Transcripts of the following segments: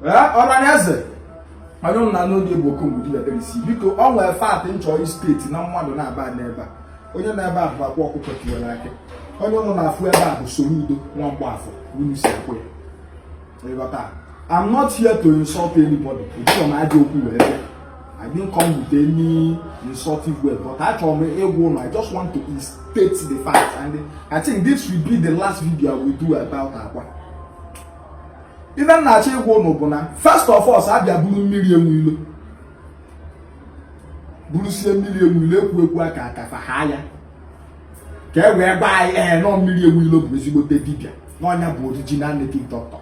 ọranaeze onye m na n'oge bụ okombudibebelisi biko ọ nwere fact m chọrọ state na mmadụ naabọ nọ ebe a onye nọ ebe a bụ Akwa Ọkụkọ Tiwara Akị onye ụnụ na-afụ ebe a bụ Soludo nwa Mgbafọ unu si akpọ ya ịghọta I'm not here to insult anybody ejirọ m ajọ okwu wee bịa I didn't come with any insultive word but achọrọ m ịgwa ụnụ I just want to state the fact and I think this will be the last video I will do about akwa ife m na-achọ ịgwa ụnụ bụ na first of all a bịa buru mmiri enwe ilo burusie mmiri enwe ilo ekwu ekwu aka ka fa haa ya ka e wee gwa anyị ee na mmiri enwe ilo bụ ezigbote dibịa na ọ nya bụ original native doctor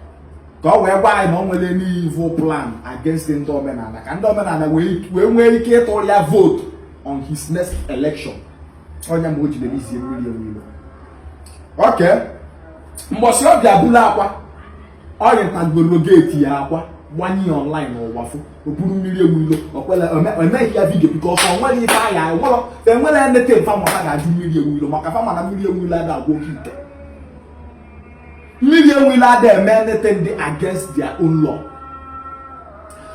ka ọ wee gwa anyị na o nwerọ any evil plan against ndị omenala ka ndị omenala wee nwee ike ịtụrụ ya vote on his next election ọ nya mere o ji releasie mmiri enwe ilo okay mbọsị ọ bịa buru akwa o rutagoro geeti ya akwa gbanye ya online n'ụwa fụ o buru mmiri enwe ilo o kwerọ e mee ya video because o nwerọ ife ahịa enwere enwere anything fa ma ka a ga-ajụ mmiri enwe ilo maka fa ma na mmiri enwe ilo ada agwọ oke ite mmiri enwe ilo ada eme anything dị against their own law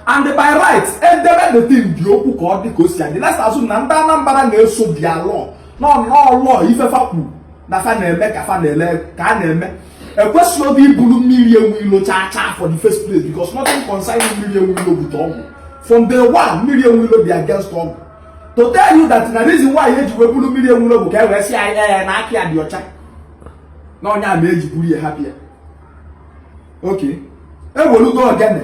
and by right edebe the thing dị okwu ka ọ dị ka o si adị let's assume na ndị Anambra na-eso their law nọ nnọọ law ife fa kwuru na fa na-eme ka fa na-ele ka a na-eme ekwesirọ iburu mmiri enwe ilo chaa chaa for the first place because nothing concerning mmiri enwe ilo with ọgwụ from day one mmiri enwe ilo dị against ọgwụ to tell you that na reason why eji wee buru mmiri enwe ilo bụ ka e wee sị anyị na aka ya dị ọcha na ọ nya mere e ji buru ya hapụ ya okay ewelugo ogene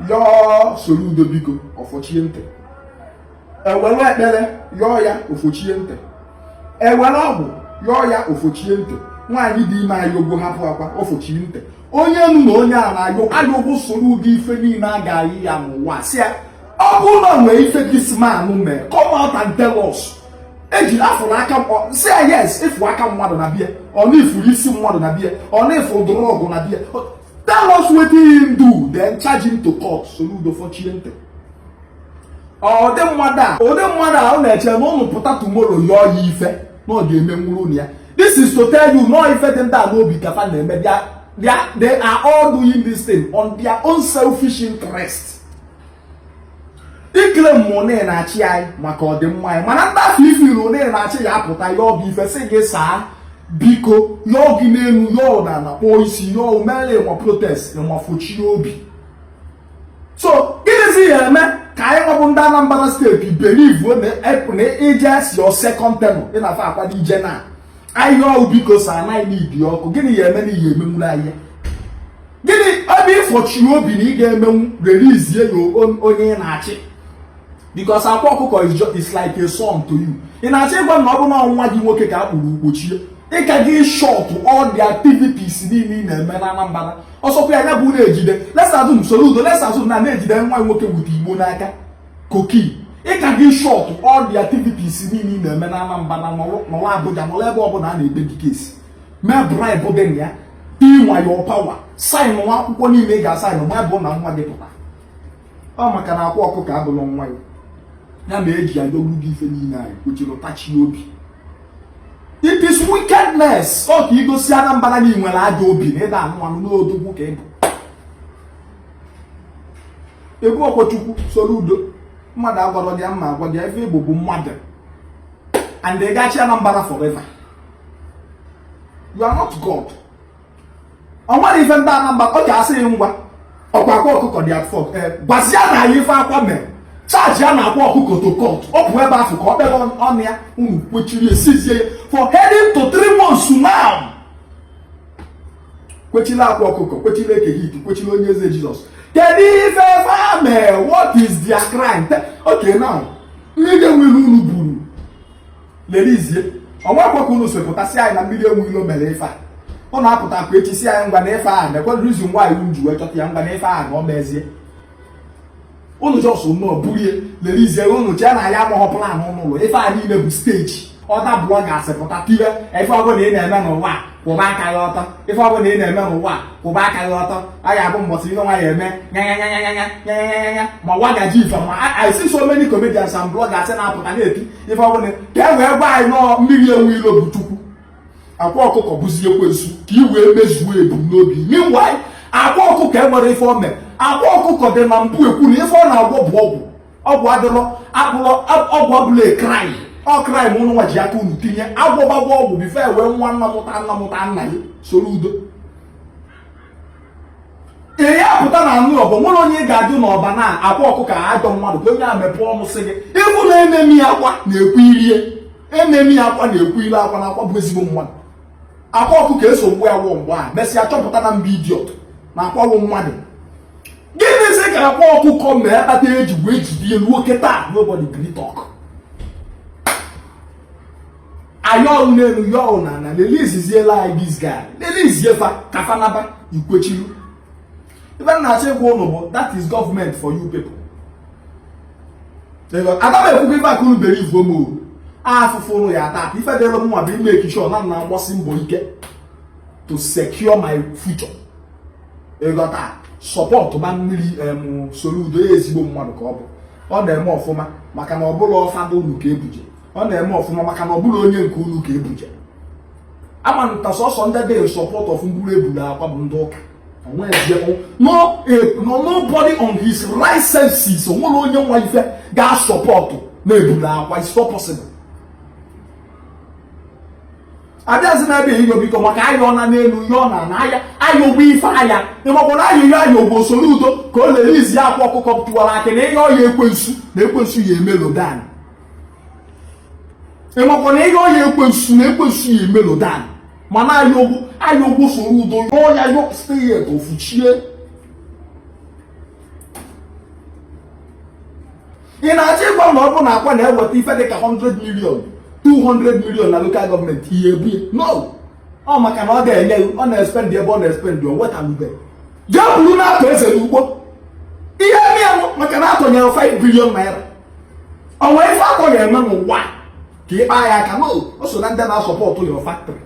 yọọ Soludo biko o fochie ntị ewere ekpere yọọ ya o fochie ntị ewere ọgwụ yọọ ya o fochie ntị nwaanyị dị ime ayọgo hapụ akwa o fochie ntị onye ụnụ na onye a na-ayọ ayọ bụ Soludo ife niile a ga-ayọ ya n'ụwa sị ya ọ bụrụ na o nwee ife this man mee come out and tell us eji afụrụ aka sị ya yes ị fụ aka mmadụ na be ya or na ị fụrụ isi mmadụ na be ya or na ị fụrụ drug na be ya tell us wetin him do then charge him to court Soludo fochie ntị ụdị mmadụ a ụdị mmadụ a ọ na-eche na ụnụ pụta tomorrow yọọ ya ife na ọ ga-emenwụrụ ụnụ ya this is to tell you na ọ ife dị ndị a n'obi ka fa na-eme ebe a they are all doing this thing on their own selfish interest ikele mma onye na-achị anyị maka ọdịmma anyị mana ndị afọ ifiri onye na-achị ya apụta yọọ gị ife sị gị sir biko yọọ gị n'elu yọọ n'ana kpọọ isi yọọ mere ịnwa protest ịnwa fochie obi so gịnịzi ya-eme ka anyị nwa bụ ndị Anambra steeti believe na i jezie your second term ị na-afa akwado ije na ahịa ọgwụ because anaghị n'ibi ọkụ gịnị ya eme n'ihi emenwuru ahịa gịnị ebe ịfọchi obi na ị ga-emenwu release ya onye ị na-achị because akwa ọkụkọ is like a son to you ị na-achọ ịgwa na ọ bụ na nwa gị nwoke ka a kpụrụ kpọchie ịka gị shut all the activities niile ị na-eme na Anambra ọsọkwa ya ya bụ na-ejide let's assume Soludo let's assume na na-ejide nwa nwoke bute igbo n'aka coke ịka gị shut all the activities niile ị na-eme na Anambra na nọrọ Abuja nọrọ ebe ọbụla a na-ekpe gị case mee bribe dị na ya inwa your power sign nwa akwụkwọ niile ị ga-asign ma bụ na nwa gị pụta ọ maka na akwa ọkụkọ abụrọ nwa ya ya na eji adogbu gị ife niile anyị kwechiri tachi obi it is wickedness ọ ka i gosi Anambra na ị nwere ajọ obi na ị da-anụ anụ na odogwu ka ị bụ ị bụrọkwọ Chukwu Soludo mmadụ agwarọ gị m ma agwa gị ife ị bụ bụ mmadụ and ị ga-achị anambra forever you are not god ọ nwere ife ndị anambra ọ ga-asị gị ngwa ọkwa akwa ọkụkọ dị at fault gwazienụ anyị ife akwa mere charge ya na akwa ọkụkọ to court ọ bụ ebe afụ ka ọ kpere ọnụ ya unu kwechiri seize ya for heading to three months now kwechila akwa ọkụkọ kwechila eke hit kwechila onye eze jizọs kedu ife fa mee what is their crime okay now mmiri enwe ilo unu buru release ọnwa akwakọ unu si pụta sị anyị na mmiri enwe ilo mere ife a unu apụtakwa echi sị anyị ngwa na ife a na-ekwe reason why unu ji wee chọta ya ngwa na ife a na ọ mezie ụnụ just nọọ buru ya release ụnụ chee na anyị amaghọ plan ụnụ ife a niile bụ stage ọta bloggers pụta tibe ife ọbụla ị na-eme n'ụwa kwụba aka gị ọtọ ife ọbụla ị na-eme n'ụwa kwụba aka gị ọtọ a ga-abụ mbọsị ihe nwa ya eme nyanyanyanyanyanyanyanya ma nwa gaji ife ma I see so many comedians and bloggers na-apụta na-eti ife ọbụla ka e wee gwa anyị na mmiri enwe ilo bụ chukwu akwa ọkụkọ bụzi ekwensu ka i wee mezuo ebumnobi meanwhile akwa ọkụkọ enwerọ ife o me akwa ọkụkọ dị na mbụ ekwu na ife ọ na-agwọ bụ ọgwụ ọgwụ adịrọ akpọrọ ọgwụ ọbụla a crime ọ crime ma ụnụnwa ji aka unu tinye agwọgbagwa ọgwụ before e wee nwa nna mụta nna mụta nna ya Soludo ee ya pụta na anụ ọbụ nwere onye ị ga-ajụ na Ọba na akwa ọkụkọ ajọ mmadụ ka onye a mepee ọnụ sị gị even enemy akwa na-ekwu irie enemy akwa na-ekwu ile akwa na akwa bụ ezigbo mmadụ akwa ọkụkọ eso mgbe awọ mgbe a mesịa chọpụta na mba idiot na akwawo mmadụ gịnịzi ka akwa ọkụkọ mee kpata eji wee jide ya ruo kịta nobody gree talk ayọọ n'elu yọọ na ala releaseziela anyị this guy release fa ka fa naba i kwechilu ife m na-achọ ịgwa ụnụ bụ that is government for you people ada m ekwukwa ife ka unu believe go m o afụfụ unu ya-ata ife dịrị mụwa bụ ịmake sure na na agbasi mbọ ike to secure my future ịghọta sọpọtụ ma mmiri Soludo ya ezigbo mmadụ ka ọ bụ ọ na-eme ọfụma maka na ọ bụrọ father unu ka ebuje ọ na-eme ọfụma maka na ọ bụrọ onye nke unu ka ebuje ama na sọsọ ndị dị support of mburu eburu Akwa bụ ndị ụka no eh, no nobody on his right senses onwerọ onye ma ife ga-asọpọtụ na ebulu Akwa it's not possible abịazi na ebe ịyọ biko maka ayọọ na n'elu yọọ na ana ayọ ayọgo ife ayọ ịmakwara ayịyọ ayọgo Soludo ka o release Akwa Ọkụkọ Tiwara Akị na ịyọ ya ekwensu na ekwensu ya e-mellow down ịmakwa na ịyọ ya ekwensu na ekwensu ya e-mellow down mana ayọgo ayọgo Soludo yọọ ya yọ still yet ofuchie ị na-achọ ịgwa na ọ bụ na Akwa na-eweta ife dị ka 100 million 200 million na local government ihe ebu no ọ maka na ọ ga-enye ọ na-espendị ebe ọ na-espendị o wetalube jee buru na-atọ eze n'ugbo ihe ndị ya maka na atụnyere 5 billion naira onwe ife Akwa ga-eme n'ụwa ka ịkpa ya aka no o so na ndị na-asọpọtụ your factory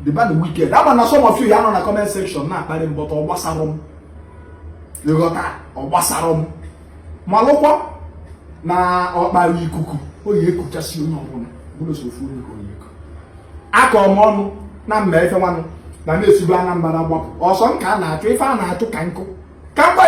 the bad wicked ama na some of you ya nọ na comment section na-akparị m but ọ gbasarọ m ịghọta ọ gbasarọ m malụkwa na ọkpara ikuku oyi ekuchasị onye ọbụla ọ bụrọ sọ ofu onye ka oyi eku akọ m ọnụ na mma efe nwanụ na na-esibu Anambra gbapụ ọsọ m ka a na-achụ ife a na-achụ ka nkụ ka mgbe